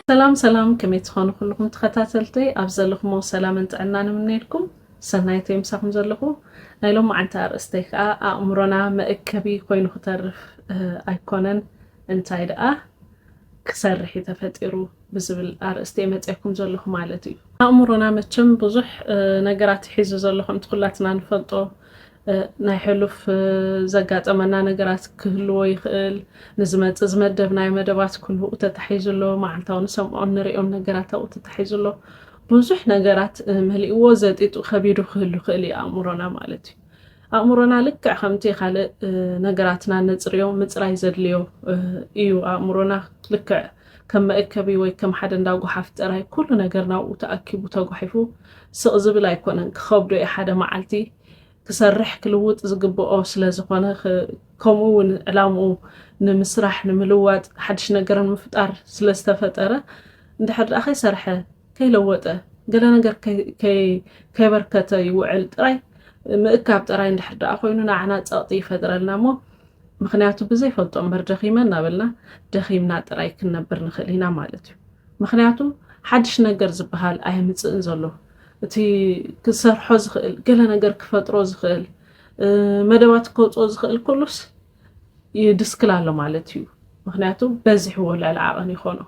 ሰላም ሰላም ከመይ ትኾኑ ኩልኹም ተኸታተልተይ ኣብ ዘለኹሞ ሰላምን ጥዕና ንምነየልኩም ሰናይተ ምሳኹም ዘለኹ ናይ ሎም መዓልቲ ኣርእስተይ ከዓ ኣእምሮና መእከቢ ኮይኑ ክተርፍ ኣይኮነን እንታይ ደኣ ክሰርሕ እዩ ተፈጢሩ ብዝብል ኣርእስቲ እየ መፅየኩም ዘለኹ ማለት እዩ። ኣእምሮና መቸም ብዙሕ ነገራት ሒዙ ዘሎ ከምቲ ኩላትና ንፈልጦ ናይ ሕሉፍ ዘጋጠመና ነገራት ክህልዎ ይኽእል። ንዝመፅእ ዝመደብናዮ መደባት ኩሉ ተታሒዙ ኣሎ። መዓልታዊ ንሰምዖ ንሪኦም ነገራት ኣብኡ ተታሒዙ ኣሎ። ብዙሕ ነገራት መሊእዎ ዘጢጡ ከቢዱ ክህሉ ክእል እዩ ኣእምሮና ማለት እዩ። ኣእምሮና ልክዕ ከምቲ ካልእ ነገራትና እነጽርዮ ምጽራይ ዘድልዮ ኢዩ። ኣእምሮና ልክዕ ከም መእከቢ ወይ ከም ሓደ እንዳ ጎሓፍ ጥራይ ኩሉ ነገር ናብኡ ተኣኪቡ ተጓሒፉ ስቕ ዝብል ኣይኮነን። ክኸብዶ ኢዩ ሓደ መዓልቲ ክሰርሕ ክልውጥ ዝግብኦ ስለ ዝኾነ ከምኡ ውን ዕላምኡ ንምስራሕ ንምልዋጥ ሓድሽ ነገር ንምፍጣር ስለ ዝተፈጠረ እንድሕር ደኣ ከይሰርሐ፣ ከይለወጠ፣ ገለ ነገር ከይበርከተ ይውዕል ጥራይ ምእካብ ጥራይ እንድሕር ደኣ ኮይኑ ንዓና ጸቕጢ ይፈጥረልና እሞ ምክንያቱ ብዘይፈልጦ እምበር ደኺመ እናበልና ደኺምና ጥራይ ክንነብር ንኽእል ኢና ማለት እዩ ምክንያቱ ሓድሽ ነገር ዝበሃል ኣይምፅእን ዘሎ እቲ ክሰርሖ ዝኽእል ገለ ነገር ክፈጥሮ ዝኽእል መደባት ከውፅኦ ዝኽእል ኩሉስ ይድስክል ኣሎ ማለት እዩ ምክንያቱ በዚሕዎ ልዕሊ ዓቐን ይኾኖ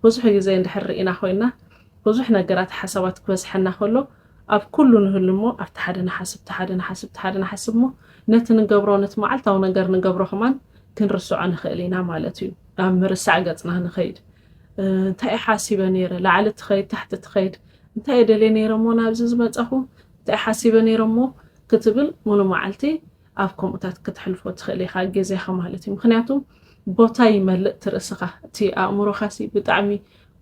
ብዙሕ ግዜ እንድሕር ርኢና ኮይና ብዙሕ ነገራት ሓሳባት ክበዝሐና ከሎ ኣብ ኩሉ ንህሉ እሞ ኣብቲ ሓደ ንሓስብ ሓደ ንሓስብ ሓደ ንሓስብ እሞ ነቲ ንገብሮ ነቲ መዓልታዊ ነገር ንገብሮ ከማን ክንርስዖ ንኽእል ኢና ማለት እዩ ናብ ምርሳዕ ገጽና ንኸይድ እንታይ ሓሲበ ነይረ ላዕሊ ትኸይድ ታሕቲ ትኸይድ እንታይ የደልየ ነይረ እሞ ናብዚ ዝመጸኹ እንታይ ሓሲበ ነይረ እሞ ክትብል ሙሉ መዓልቲ ኣብ ከምኡታት ክትሕልፎ ትኽእል ኢኻ ግዜኻ ማለት እዩ ምክንያቱ ቦታ ይመልእ ትርእስኻ እቲ ኣእምሮኻሲ ብጣዕሚ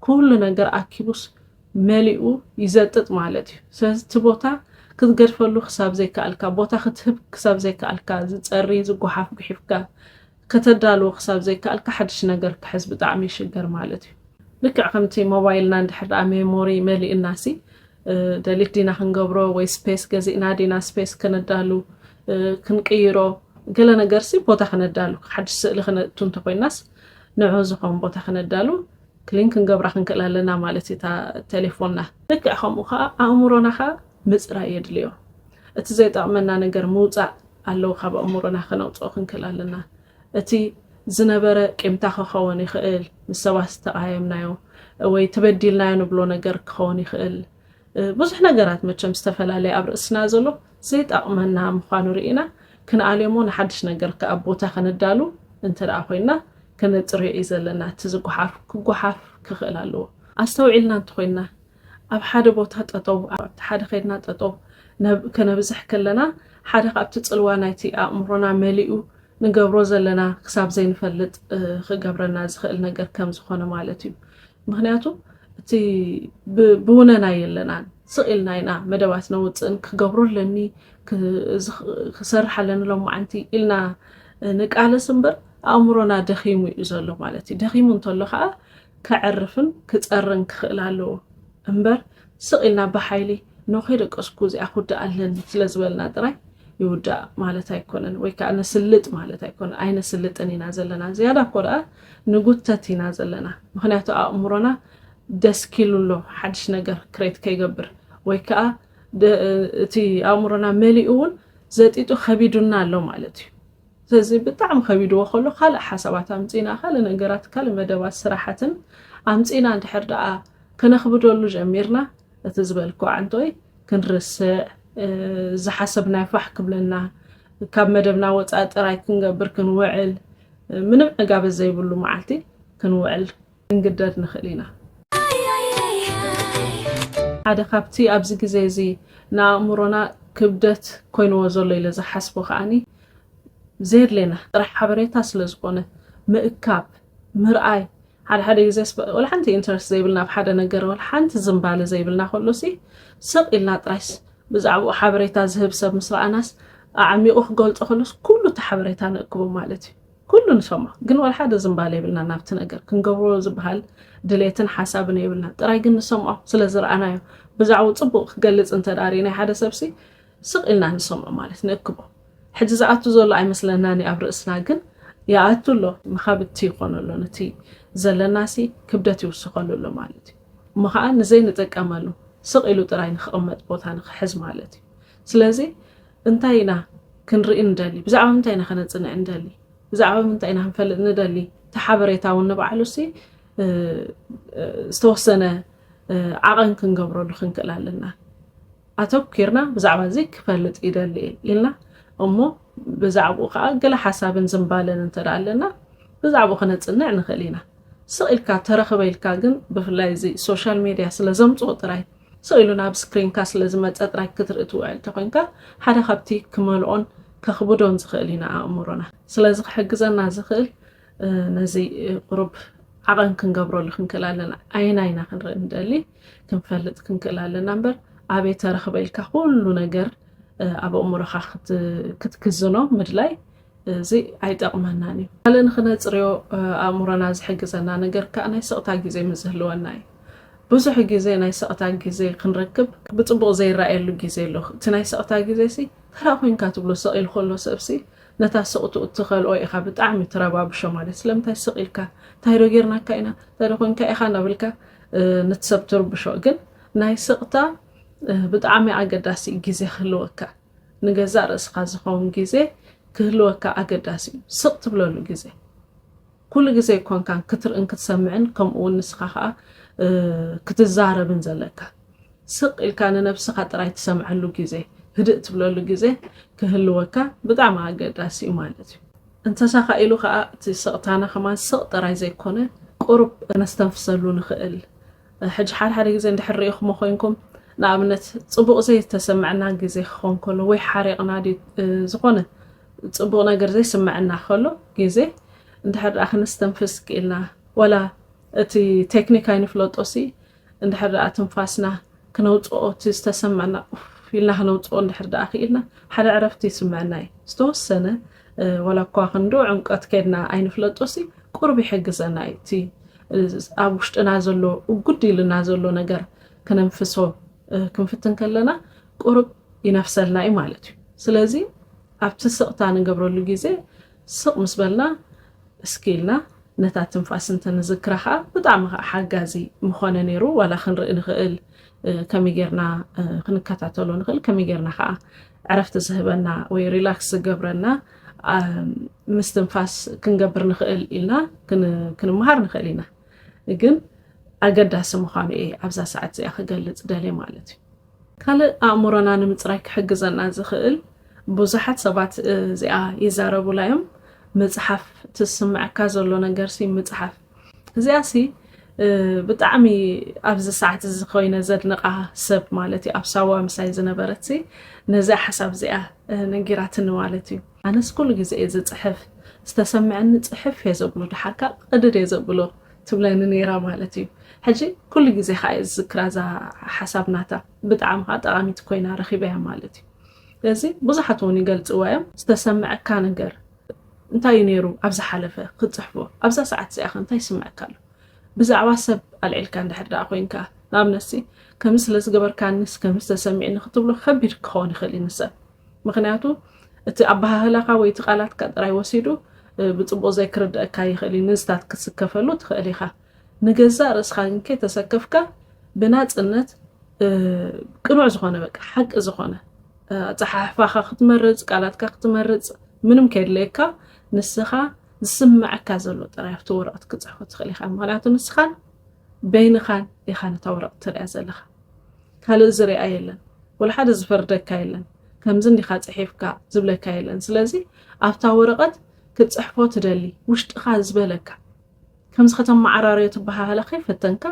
ኩሉ ነገር ኣኪቡስ መሊኡ ይዘጥጥ ማለት እዩ ስለዚ እቲ ቦታ ክትገድፈሉ ክሳብ ዘይከኣልካ ቦታ ክትህብ ክሳብ ዘይከኣልካ ዝፀሪ ዝጓሓፍ ጉሒፍካ ከተዳልዎ ክሳብ ዘይከኣልካ ሓድሽ ነገር ክሕዝ ብጣዕሚ ይሽገር ማለት እዩ። ልክዕ ከምቲ ሞባይልና እንድሕር ደኣ ሜሞሪ መሊእናሲ ደሊት ዲና ክንገብሮ ወይ ስፔስ ገዚእና ዲና ስፔስ ከነዳሉ ክንቅይሮ ገለ ነገርሲ ቦታ ክነዳሉ ሓድሽ ስእሊ ክነእቱ እንተኮይናስ ንዑ ዝኸውን ቦታ ክነዳሉ ክሊን ክንገብራ ክንክእል ኣለና ማለት እዩ እታ ቴሌፎንና ልክዕ ከምኡ ከዓ ኣእምሮና ከዓ ምፅራይ የድልዮ እቲ ዘይጠቕመና ነገር ምውፃእ ኣለዉ ካብ ኣእምሮና ከነውጽኦ ክንክል ኣለና እቲ ዝነበረ ቂምታ ከኸውን ይኽእል ምስ ሰባት ዝተቓየምናዮ ወይ ተበዲልናዮ ንብሎ ነገር ክኸውን ይኽእል ብዙሕ ነገራት መቸም ዝተፈላለየ ኣብ ርእስና ዘሎ ዘይጠቕመና ምዃኑ ርኢና ክንኣልዮሞ ንሓድሽ ነገር ከኣ ቦታ ከነዳሉ እንተ ደኣ ኮይንና ከነጽርዮ እዩ ዘለና እቲ ዝጓሓፍ ክጓሓፍ ክኽእል ኣለዎ ኣስተውዒልና እንተኾይንና ኣብ ሓደ ቦታ ጠጠው ኣብቲ ሓደ ከድና ጠጠው ከነብዝሕ ከለና ሓደ ካብቲ ጽልዋ ናይቲ ኣእምሮና መሊኡ ንገብሮ ዘለና ክሳብ ዘይንፈልጥ ክገብረና ዝኽእል ነገር ከም ዝኾነ ማለት እዩ ምክንያቱ እቲ ብውነና የለናን ስቕ ኢልና ኢና መደባት ነውፅእን ክገብሮ ኣለኒ ክሰርሕ ኣለኒ ሎማዓንቲ ኢልና ንቃለስ እምበር ኣእምሮና ደኺሙ እዩ ዘሎ ማለት እዩ ደኺሙ እንተሎ ከዓ ከዕርፍን ክጸርን ክኽእል ኣለዎ እምበር ስቕ ኢልና ብሓይሊ ኖ ከይደቀስኩ እዚኣ ክውዳእ ኣለኒ ስለ ዝበልና ጥራይ ይውዳእ ማለት ኣይኮነን ወይ ከዓ ነስልጥ ማለት ኣይኮነን ኣይነስልጥን ኢና ዘለና ዝያዳ እኮ ደኣ ንጉተት ኢና ዘለና ምክንያቱ ኣእምሮና ደስኪሉ ኣሎ ሓድሽ ነገር ክሬት ከይገብር ወይ ከዓ እቲ ኣእምሮና መሊኡ እውን ዘጢጡ ከቢዱና ኣሎ ማለት እዩ ሰዚ ብጣዕሚ ከቢድዎ ከሎ ካልእ ሓሳባት ኣምጺና ካልእ ነገራት ካልእ መደባት ስራሓትን ኣምጺና እንድሕር ደኣ ከነኽብደሉ ጀሚርና እቲ ዝበልክዎ ዓንቶይ ክንርስዕ ዝሓሰብናዮ ፋሕ ክብለና ካብ መደብና ወጻኢ ጥራይ ክንገብር ክንውዕል ምንም ዕጋበት ዘይብሉ መዓልቲ ክንውዕል ክንግደድ ንኽእል ኢና። ሓደ ካብቲ ኣብዚ ግዜ እዚ ንኣእምሮና ክብደት ኮይንዎ ዘሎ ኢለ ዝሓስቦ ከዓኒ ዘየድሌና ጥራሕ ሓበሬታ ስለ ዝኾነ ምእካብ ምርኣይ ሓደ ሓደ ግዜ ወላ ሓንቲ ኢንተረስት ዘይብልና ኣብ ሓደ ነገር ወላ ሓንቲ ዝምባለ ዘይብልና ከሎሲ ስቕ ኢልና ጥራይስ ብዛዕባኡ ሓበሬታ ዝህብ ሰብ ምስ ረኣናስ ኣዕሚቑ ክገልጾ ከሎስ ኩሉ እቲ ሓበሬታ ንእክቦ ማለት እዩ ኩሉ ንሰሞ ግን ዋላ ሓደ ዝምባለ የብልና ናብቲ ነገር ክንገብሮ ዝበሃል ድሌትን ሓሳብን የብልና ጥራይ ግን ንሰምዖ ስለ ዝረኣናዮ ብዛዕቡ ጽቡቅ ክገልጽ እንተ ዳሪ ናይ ሓደ ሰብሲ ስቅ ኢልና ንሰምዖ ማለት ንእክቦ ሕጂ ዝኣቱ ዘሎ ኣይመስለናን ኣብ ርእስና ግን ይኣቱ ኣሎ መኻብቲ ይኾኑ ኣሎ ነቲ ዘለናሲ ክብደት ይውስኸሉ ኣሎ ማለት እዩ እሞ ከዓ ንዘይንጥቀመሉ ስቅ ኢሉ ጥራይ ንክቕመጥ ቦታ ንክሕዝ ማለት እዩ ስለዚ እንታይ ኢና ክንርኢ ንደሊ? ብዛዕባ ምንታይ ኢና ከነጽንዕ ንደሊ? ብዛዕባ ምንታይ ኢና ክንፈልጥ ንደሊ? እቲ ሓበሬታ እውን ንባዕሉሲ ዝተወሰነ ዓቐን ክንገብረሉ ክንክእል ኣለና። ኣተኲርና ብዛዕባ እዚ ክፈልጥ ይደሊ እየ ኢልና እሞ ብዛዕባኡ ከዓ ገለ ሓሳብን ዝምባለን እንተ ኣለና ብዛዕባኡ ክነፅንዕ ንኽእል ኢና። ስቕ ኢልካ ተረኽበ ኢልካ ግን ብፍላይ እዚ ሶሻል ሜድያ ስለ ዘምፅኦ ጥራይ ስቕ ኢሉ ናብ ስክሪንካ ስለ ዝመጸ ጥራይ ክትርኢ ትውዕል እንተ ኾይንካ፣ ሓደ ካብቲ ክመልኦን ከኽብዶን ዝኽእል እዩ ንኣእምሮና። ስለዚ ክሕግዘና ዝኽእል ነዚ ቁሩብ ዓቐን ክንገብረሉ ክንክእል ኣለና። ኣየናይ ኢና ክንርኢ ንደሊ ክንፈልጥ ክንክእል ኣለና እምበር ኣበይ ተረኽበ ኢልካ ኩሉ ነገር ኣብ ኣእምሮኻ ክትክዝኖ ምድላይ እዚ ኣይጠቕመናን እዩ። ካልእ ንኽነጽርዮ ኣእምሮና ዝሕግዘና ነገር ከኣ ናይ ስቕታ ግዜ ምስ ዝህልወና እዩ። ብዙሕ ግዜ ናይ ስቕታ ግዜ ክንረክብ ብጽቡቕ ዘይረኣየሉ ግዜ ኣሎ። እቲ ናይ ስቕታ ግዜሲ ተራ ኮይንካ ትብሎ፣ ስቕ ኢሉ ከሎ ሰብሲ ነታ ስቕትኡ እትኸልኦ ኢኻ ብጣዕሚ ትረባብሾ ማለት ስለምንታይ ስቕ ኢልካ እንታይዶ ጌርናካ ኢና እንታይዶ ኮይንካ ኢኻ እናበልካ ንቲ ሰብ ትርብሾ ግን ናይ ስቕታ ብጣዕሚ ኣገዳሲ ግዜ ክህልወካ ንገዛእ ርእስኻ ዝኸውን ግዜ ክህልወካ ኣገዳሲ እዩ። ስቕ ትብለሉ ግዜ፣ ኩሉ ግዜ ኮንካን ክትርእን ክትሰምዕን ከምኡ እውን ንስኻ ኸኣ ክትዛረብን ዘለካ ስቕ ኢልካ ንነብስኻ ጥራይ ትሰምዐሉ ግዜ፣ ህድእ ትብለሉ ግዜ ክህልወካ ብጣዕሚ ኣገዳሲ እዩ ማለት እዩ። እንተሳኻ ኢሉ ኸኣ እቲ ስቕታና ከማን ስቕ ጥራይ ዘይኮነ ቁሩብ ከነስተንፍሰሉ ንኽእል ሕጂ ሓደ ሓደ ግዜ እንድሕር ርኢኹሞ ኮይንኩም ንኣብነት ጽቡቕ ዘይተሰምዐና ግዜ ክኾን ከሎ ወይ ሓሪቕና ዝኾነ ጽቡቕ ነገር ዘይስምዐና ከሎ ግዜ እንድሕር ደኣ ክንስተንፍስ ክኢልና ወላ እቲ ቴክኒክ ኣይንፍለጦ ሲ እንድሕር ደኣ ትንፋስና ክነውጽኦ እቲ ዝተሰምዐና ኢልና ክነውጽኦ እንድሕር ደኣ ክኢልና ሓደ ዕረፍቲ ይስምዐና እዩ ዝተወሰነ ወላ እኳ ክንዶ ዕምቀት ከድና ኣይንፍለጦ ሲ ቁርብ ይሕግዘና እዩ እቲ ኣብ ውሽጥና ዘሎ እጉድ ኢልና ዘሎ ነገር ክነንፍሶ ክንፍትን ከለና ቁሩብ ይነፍሰልና እዩ ማለት እዩ ስለዚ ኣብቲ ስቕታ ንገብረሉ ግዜ ስቕ ምስ በልና እስኪ ኢልና ነታ ትንፋስ እንተንዝክራ ከዓ ብጣዕሚ ከዓ ሓጋዚ ምኾነ ነይሩ ዋላ ክንርኢ ንኽእል ከመይ ጌርና ክንከታተሎ ንኽእል ከመይ ጌርና ከዓ ዕረፍቲ ዝህበና ወይ ሪላክስ ዝገብረና ምስትንፋስ ክንገብር ንኽእል ኢልና ክንመሃር ንኽእል ኢና ግን ኣገዳሲ ምዃኑ እየ ኣብዛ ሰዓት እዚኣ ክገልፅ ደልየ ማለት እዩ ካልእ ኣእምሮና ንምፅራይ ክሕግዘና ዝኽእል ብዙሓት ሰባት እዚኣ ይዛረቡላ እዮም ምፅሓፍ ትስምዐካ ዘሎ ነገርሲ ምፅሓፍ እዚኣ ሲ ብጣዕሚ ኣብዚ ሰዓት እዚ ኮይነ ዘድንቃ ሰብ ማለት እዩ ኣብ ሳዋ ምሳይ ዝነበረት ነዚኣ ሓሳብ እዚኣ ነጊራትኒ ማለት እዩ ኣነስ ኩሉ ግዜ እየ ዝፅሕፍ ዝተሰምዐኒ ፅሕፍ እየ ዘብሎ ድሓር ካብ ቅድድ እየ ዘብሎ ትብለኒ ነይራ ማለት እዩ ሕጂ ኩሉ ግዜ ከዓ እየ ዝዝክራ እዛ ሓሳብ ናታ ብጣዕሚ ከዓ ጠቃሚት ኮይና ረኪበያ ማለት እዩ ስለዚ ብዙሓት እውን ይገልፅዋ እዮም ዝተሰምዐካ ነገር እንታይ እዩ ነይሩ ኣብ ዝሓለፈ ክትጽሕፎ? ኣብዛ ሰዓት እዚኣኸ እንታይ ይስምዐካ ኣሎ? ብዛዕባ ሰብ ኣልዒልካ እንድሕር ደኣ ኮይንካ፣ ንኣብነትሲ ከምዚ ስለ ዝገበርካኒስ ከምዚ ተሰሚዕኒ ክትብሎ ከቢድ ክኸውን ይኽእል እዩ ንሰብ። ምኽንያቱ እቲ ኣበሃህላኻ ወይ እቲ ቃላትካ ጥራይ ወሲዱ ብጽቡቕ ዘይክርደኣካ ይኽእል እዩ፣ ንዝታት ክትስከፈሉ ትኽእል ኢኻ። ንገዛእ ርእስኻ ግን ከይተሰከፍካ ብናጽነት ቅኑዕ ዝኾነ በቃ ሓቂ ዝኾነ ኣጸሓሕፋኻ ክትመርጽ ቃላትካ ክትመርጽ ምንም ከየድለየካ ንስኻ ዝስምዐካ ዘሎ ጥራይ ኣብቲ ወረቕት ክፅሕፎ ትኽእል ኢኻ ምክንያቱ ንስኻን በይንኻን ኢኻ ነታ ወረቕት ትሪያ ዘለኻ ካልእ ዝርኣ የለን ወላ ሓደ ዝፈርደካ የለን ከምዚ እንዲኻ ፅሒፍካ ዝብለካ የለን ስለዚ ኣብታ ወረቐት ክትፅሕፎ ትደሊ ውሽጥኻ ዝበለካ ከምዚ ከተመዓራርዮ ትበሃሃላ ከይፈተንካ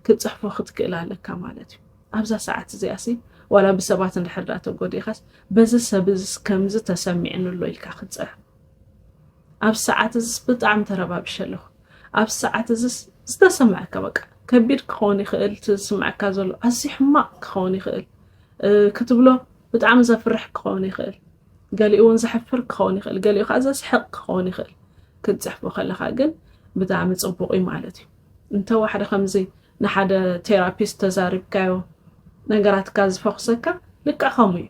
ክትጽሕፎ ክትክእል ኣለካ ማለት እዩ። ኣብዛ ሰዓት እዚኣሲ ዋላ ብሰባት እንድሕር ደኣ ተጎዲእኻስ በዚ ሰብ እዚስ ከምዚ ተሰሚዕኒ ኣሎ ኢልካ ክትጽሕፍ ኣብ ሰዓት እዚስ ብጣዕሚ ተረባብሸ ኣለኹ ኣብ ሰዓት እዚስ ዝተሰምዐካ በቃ ከቢድ ክኸውን ይኽእል እቲ ዝስምዐካ ዘሎ ኣዝዩ ሕማቕ ክኸውን ይኽእል ክትብሎ ብጣዕሚ ዘፍርሕ ክኸውን ይኽእል፣ ገሊኡ ውን ዘሕፍር ክኸውን ይኽእል፣ ገሊኡ ከኣ ዘስሕቕ ክኸውን ይኽእል፣ ክትጽሕፎ ከለኻ ግን ብጣዕሚ ጽቡቕ እዩ ማለት እዩ። እንተ ዋሕደ ከምዚ ንሓደ ቴራፒስት ተዛሪብካዮ ነገራትካ ዝፈኹሰካ ልክዕ ከምኡ እዩ።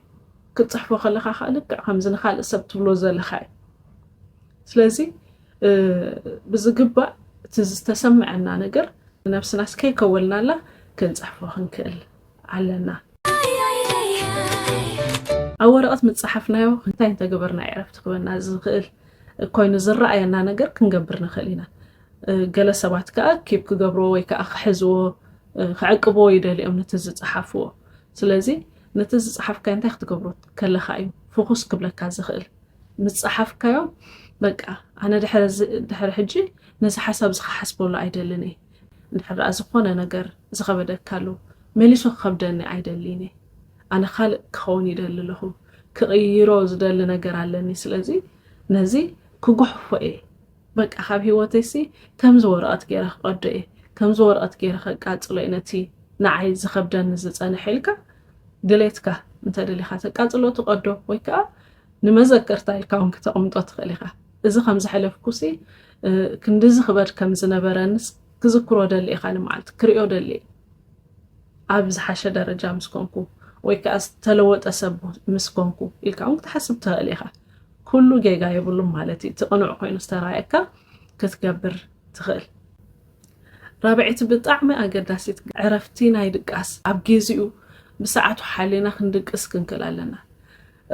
ክትጽሕፎ ከለኻ ከኣ ልክዕ ከምዚ ንኻልእ ሰብ ትብሎ ዘለኻ እዩ። ስለዚ ብዝግባእ እቲ ዝተሰምዐና ነገር ንነብስናስ ከይከወልናላ ክንጽሕፎ ክንክእል ኣለና። ኣብ ወረቐት ምፀሓፍናዮ እንታይ እንተገበርና ዕረፍቲ ክበና ዝኽእል ኮይኑ ዝረኣየና ነገር ክንገብር ንኽእል ኢና። ገለ ሰባት ከዓ ኪብ ክገብርዎ ወይ ከዓ ክሕዝዎ ክዕቅብዎ ይደልዩ እዮም ነቲ ዝፀሓፍዎ። ስለዚ ነቲ ዝፀሓፍካዮ እንታይ ክትገብሮ ከለካ እዩ ፍኹስ ክብለካ ዝኽእል ምፀሓፍካዮ በቃ ኣነ ድሕሪ ሕጂ ነዚ ሓሳብ እዚ ክሓስበሉ ኣይደልን እየ እንድሕር ደኣ ዝኾነ ነገር ዝኸበደካ ኣሎ፣ መሊሱ ክኸብደኒ ኣይደልይን እየ። ኣነ ካልእ ክኸውን ይደሊ ኣለኹ። ክቕይሮ ዝደሊ ነገር ኣለኒ። ስለዚ ነዚ ክጉሕፎ እየ። በቃ ካብ ህይወተይሲ ከምዚ ወረቐት ገይረ ክቐዶ እየ፣ ከምዚ ወረቐት ገይረ ከቃጽሎ እየ ነቲ ንዓይ ዝኸብደኒ ዝጸንሐ ኢልካ ድሌትካ እንተደሊኻ ተቃጽሎ ትቐዶ ወይ ከኣ ንመዘከርታ ኢልካ ውን ክተቕምጦ ትኽእል ኢኻ። እዚ ከም ዝሐለፍኩሲ ክንድዚ ክበድ ከም ዝነበረንስ ክዝክሮ ደሊ ኢኻ ንመዓልቲ ክሪኦ ደሊ ኣብ ዝሓሸ ደረጃ ምስ ኮንኩ ወይ ከዓ ዝተለወጠ ሰብ ምስ ኮንኩ ኢልካ ውን ክትሓስብ ትኽእል ኢኻ። ኩሉ ጌጋ የብሉን ማለት እዩ። እቲ ቅኑዕ ኮይኑ ዝተራእየካ ክትገብር ትኽእል። ራብዐይቲ ብጣዕሚ ኣገዳሲት ዕረፍቲ ናይ ድቃስ ኣብ ጊዚኡ ብሰዓቱ ሓሊና ክንድቅስ ክንክእል ኣለና።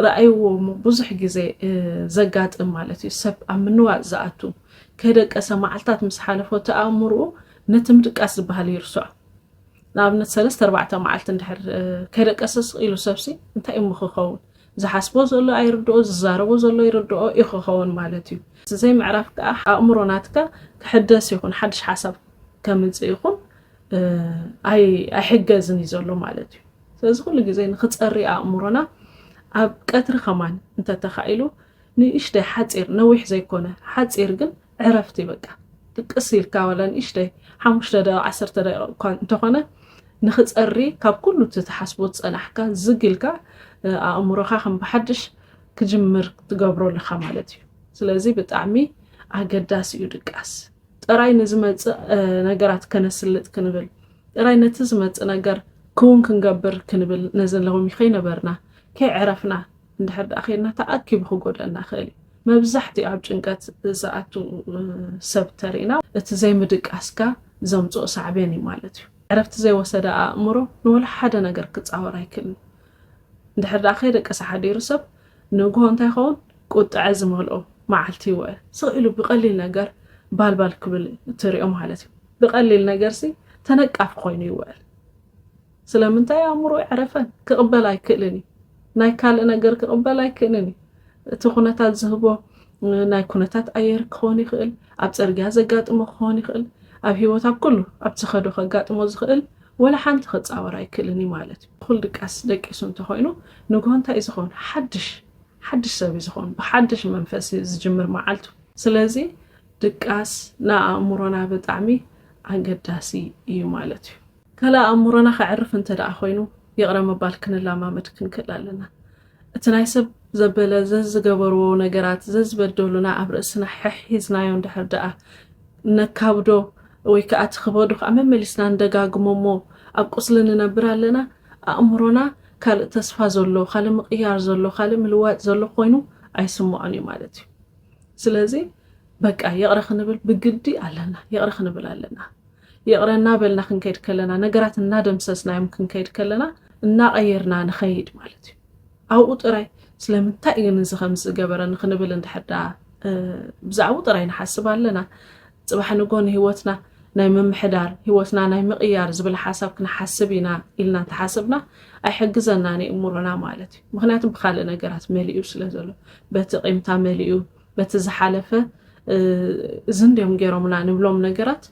ረኣይዎ እሞ ብዙሕ ግዜ ዘጋጥም ማለት እዩ ሰብ ኣብ ምንዋጽ ዝኣቱ ከደቀሰ መዓልታት ምስ ሓለፎ እቲ ኣእምርኡ ነቲ ምድቃስ ዝበሃል ይርስዖ ንኣብነት ሰለስተ ኣርባዕተ መዓልቲ እንድሕር ከደቀሰ ስቕ ኢሉ ሰብሲ እንታይ እሞ ክኸውን ዝሓስቦ ዘሎ ኣይርድኦ ዝዛረቦ ዘሎ ይርድኦ እዩ ክኸውን ማለት እዩ ዘይ ምዕራፍ ከዓ ኣእምሮ ናትካ ክሕደስ ይኹን ሓድሽ ሓሳብ ከምፅእ ይኹን ኣይሕገዝን እዩ ዘሎ ማለት እዩ ስለዚ ኩሉ ግዜ ንክፀሪ ኣእምሮና ኣብ ቀትሪ ከማን እንተተካኢሉ ንእሽተይ ሓፂር ነዊሕ ዘይኮነ ሓፂር ግን ዕረፍቲ በቃ ጥቅስ ኢልካ ዋላ ንእሽተይ ሓሙሽተ ደቂቅ ዓሰርተ ደቂቅ እኳ እንተኾነ ንክፀሪ ካብ ኩሉ እቲ ትሓስቦ ዝፀናሕካ ዝግ ኢልካ ኣእምሮካ ከም ብሓድሽ ክጅምር ትገብሮ ኣለካ ማለት እዩ ስለዚ ብጣዕሚ ኣገዳሲ እዩ ድቃስ ጥራይ ንዝመጽእ ነገራት ከነስልጥ ክንብል ጥራይ ነቲ ዝመጽእ ነገር ክውን ክንገብር ክንብል ነዚ ሎሚ ከይነበርና ከይዕረፍና እንድሕር ደኣ ከይድና ተኣኪቡ ክጎደና ይኽእል እዩ መብዛሕትኡ ኣብ ጭንቀት ዝኣቱ ሰብ ተርእና እቲ ዘይምድቃስካ ዘምጽኦ ሳዕቤን እዩ ማለት እዩ ዕረፍቲ ዘይወሰደ ኣእምሮ ንወላ ሓደ ነገር ክጻወር ኣይክእልን እንድሕር ደኣ ከይደቀሰ ሓዲሩ ሰብ ንግሆ እንታይ ይኸውን? ቁጥዐ ዝመልኦ መዓልቲ ይወ። ስቕ ኢሉ ብቐሊል ነገር ባልባል ክብል እትርእዮ ማለት እዩ። ብቐሊል ነገርሲ ተነቃፊ ኮይኑ ይውዕል። ስለምንታይ? ኣእምሮኡ ኣይዕረፈን፣ ክቕበል ኣይክእልን እዩ። ናይ ካልእ ነገር ክቕበል ኣይክእልን እዩ። እቲ ኩነታት ዝህቦ ናይ ኩነታት ኣየር ክኸውን ይኽእል፣ ኣብ ጽርግያ ዘጋጥሞ ክኸውን ይኽእል፣ ኣብ ህይወት ኣብ ኩሉ ኣብ ዝኸዶ ከጋጥሞ ዝኽእል ወላ ሓንቲ ክጻወር ኣይክእልን እዩ ማለት እዩ። እኹል ድቃስ ደቂሱ እንተ ኾይኑ ንግሆ እንታይ እዩ ዝኸውን? ሓድሽ ሓድሽ ሰብ እዩ ዝኸውን። ብሓድሽ መንፈስ እዩ ዝጅምር መዓልቱ። ስለዚ ድቃስ ንኣእምሮና ብጣዕሚ ኣገዳሲ እዩ ማለት እዩ። ካልእ ኣእምሮና ከዕርፍ እንተ ደኣ ኾይኑ ይቕረ ምባል ክንለማመድ ክንክእል ኣለና። እቲ ናይ ሰብ ዘበለ ዘዝገበርዎ ነገራት ዘዝበደሉና ኣብ ርእስና ሐሒዝናዮ እንድሕር ድኣ ነካብዶ ወይ ከኣ እቲ ክበዱ ከኣ መመሊስና ንደጋግሞ እሞ ኣብ ቁስሊ ንነብር ኣለና ኣእምሮና ካልእ ተስፋ ዘሎ ካልእ ምቕያር ዘሎ ካልእ ምልዋጥ ዘሎ ኮይኑ ኣይስምዖን እዩ ማለት እዩ ስለዚ በቃ ይቕረ ክንብል ብግዲ ኣለና ይቕረ ክንብል ኣለና ይቕረ እናበልና ክንከይድ ከለና ነገራት እናደምሰስናዮም ክንከይድ ከለና እናቐየርና ንኸይድ ማለት እዩ ኣብኡ ጥራይ ስለምንታይ እዩ ንዚ ከምዚ ዝገበረ ንክንብል እንድሕር ዳ ብዛዕባኡ ጥራይ ንሓስብ ኣለና ፅባሕ ንጎ ንሂወትና ናይ ምምሕዳር ሂወትና ናይ ምቕያር ዝብል ሓሳብ ክንሓስብ ኢና ኢልና እንተሓስብና ኣይሕግዘናን እዩ እምሮና ማለት እዩ ምክንያቱ ብካልእ ነገራት መሊኡ ስለ ዘሎ በቲ ቂምታ መሊኡ በቲ ዝሓለፈ እዚ እንዲዮም ገይሮምና ንብሎም ነገራት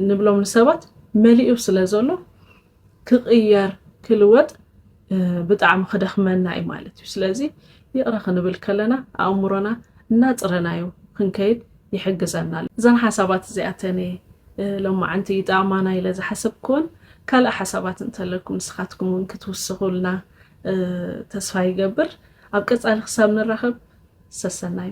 ንብሎም ንሰባት መሊኡ ስለ ዘሎ ክቕየር ክልወጥ ብጣዕሚ ክደኽመና እዩ ማለት እዩ ስለዚ ይቕረ ክንብል ከለና ኣእምሮና እናፅረናዮ ክንከይድ ይሕግዘና እዘን ሓሳባት እዚኣተን ሎማዓንቲ ይጠቕማና ኢለ ዝሓሰብክወን ካልእ ሓሳባት እንተለኩም ንስኻትኩም እውን ክትውስኹልና ተስፋ ይገብር ኣብ ቀፃሊ ክሳብ ንራኸብ ሰሰናዩ